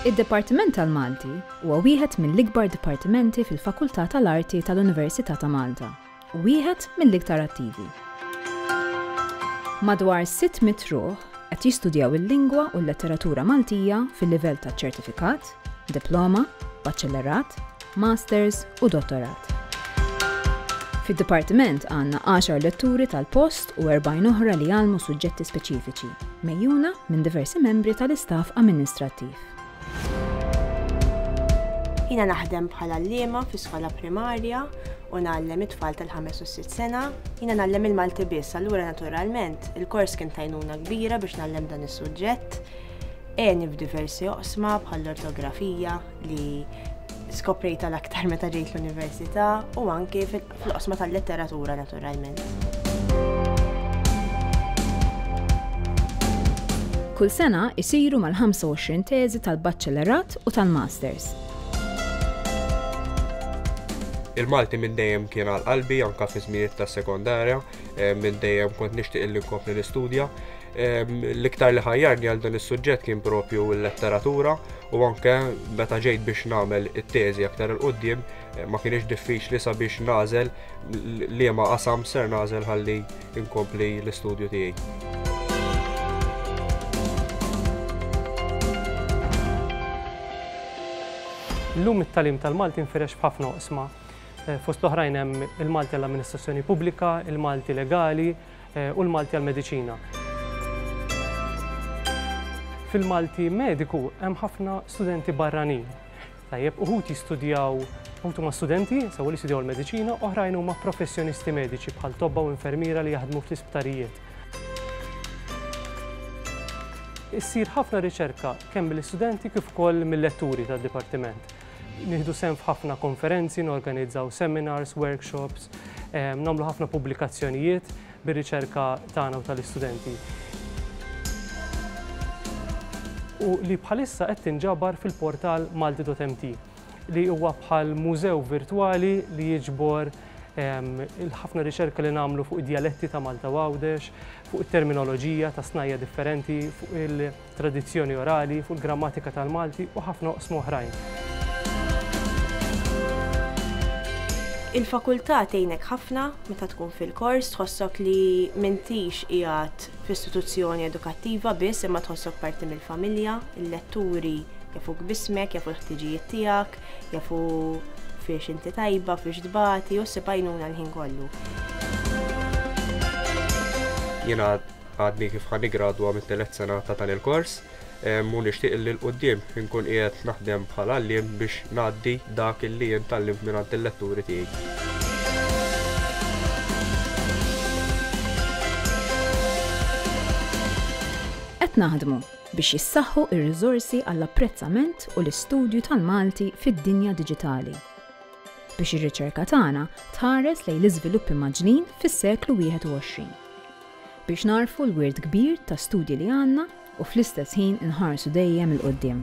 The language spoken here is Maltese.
Id-Dipartiment tal-Malti huwa wieħed mill-ikbar dipartimenti fil-Fakultà tal-Arti tal-Università ta' Malta u wieħed mill-iktar attivi. Madwar 600 ruħ qed jistudjaw il-lingwa u l-letteratura Maltija fil-livell ta' ċertifikat, diploma, baċellerat, Masters u Dottorat. Fid-Dipartiment għandna għaxar letturi tal-post u erbgħin oħra li jgħallmu suġġetti speċifiċi, mgħejjuna minn diversi membri tal-istaff amministrattiv. Jiena naħdem bħal għalliema fi skola primarja u ngħallem it-tfal tal-ħames u sitt sena. Jiena ngħallem il-Malti biss, allura naturalment il-kors kien tajnuna kbira biex ngħallem dan is-suġġett. Għeni f'diversi oqsma bħall-ortografija li skoprejta l-aktar meta ġejt l-università u anke fl-oqsma tal-letteratura naturalment. Kull sena isiru mal-25 teżi tal-Baċċellerat u tal-Masters. Il-Malti minn dejjem kien għal qalbi anka fi żminijiet tas-sekondarja, eh, minn dejjem kont nixtieq illi nkompli nistudja. L-iktar li ħajjarni għal dan is-suġġett kien propju l-letteratura u anke meta ġejt biex nagħmel it-teżi aktar il qudiem eh, ma kienx diffiċli sabiex nażel li ma qasam ser nażel ħalli inkompli l-istudju tiegħi. L-lum it-talim tal-Malti nfirex b'ħafna oqsma. Eh, fost l-oħrajn hemm il-Malti l-amministrazzjoni pubblika, il-Malti legali, u l-Malti għall-Mediċina. Fil-Malti Mediku hemm ħafna studenti barranin. Tajjeb, uħud jistudjaw, uħud huma studenti, sewwa li jistudjaw il-mediċina, oħrajn huma professjonisti mediċi bħal tobba u infermiera li jaħdmu fl-isptarijiet. Issir ħafna riċerka kemm mill-istudenti kif ukoll mil-letturi tad-dipartiment. Nieħdu sehem f'ħafna konferenzi, norganizzaw seminars, workshops, nagħmlu ħafna pubblikazzjonijiet bir-riċerka tagħna u tal-istudenti. U li bħalissa qed tinġabar fil-portal malti.mt li huwa bħal mużew virtwali li jiġbor il-ħafna riċerka li nagħmlu fuq id-djaletti ta' Malta u Għawdex, fuq it-terminoloġija ta' snajja differenti, fuq il- tradizzjoni orali, fuq il-grammatika tal-Malti u ħafna oqsma oħrajn. Il-Fakultà tgħinek ħafna meta tkun fil-kors, tħossok li m'intix qiegħed f'istituzzjoni edukattiva biss imma tħossok parti mill-familja, il-letturi jafuk b'ismek, jafu l-ħtiġijiet tiegħek, jafu fiex inti tajba, fiex tbati u ssib għajnuna l-ħin kollu. għadni kif ħa niggradwa mit-telet sena ta' dan il-kors u nixtieq li l-qudiem inkun qiegħed naħdem bħal għalliem biex ngħaddi dak li jien tallimt minn għand il-letturi tiegħi. Qed naħdmu biex jissaħħu r-riżorsi għall-apprezzament u l-istudju tal-Malti fid-dinja diġitali biex ir-riċerka tagħna tħares lejn l-iżviluppi maġnin fis-seklu 21. biex nagħrfu l-wirt kbir ta' studji li għandna u fl-istess ħin inħarsu dejjem 'il quddiem.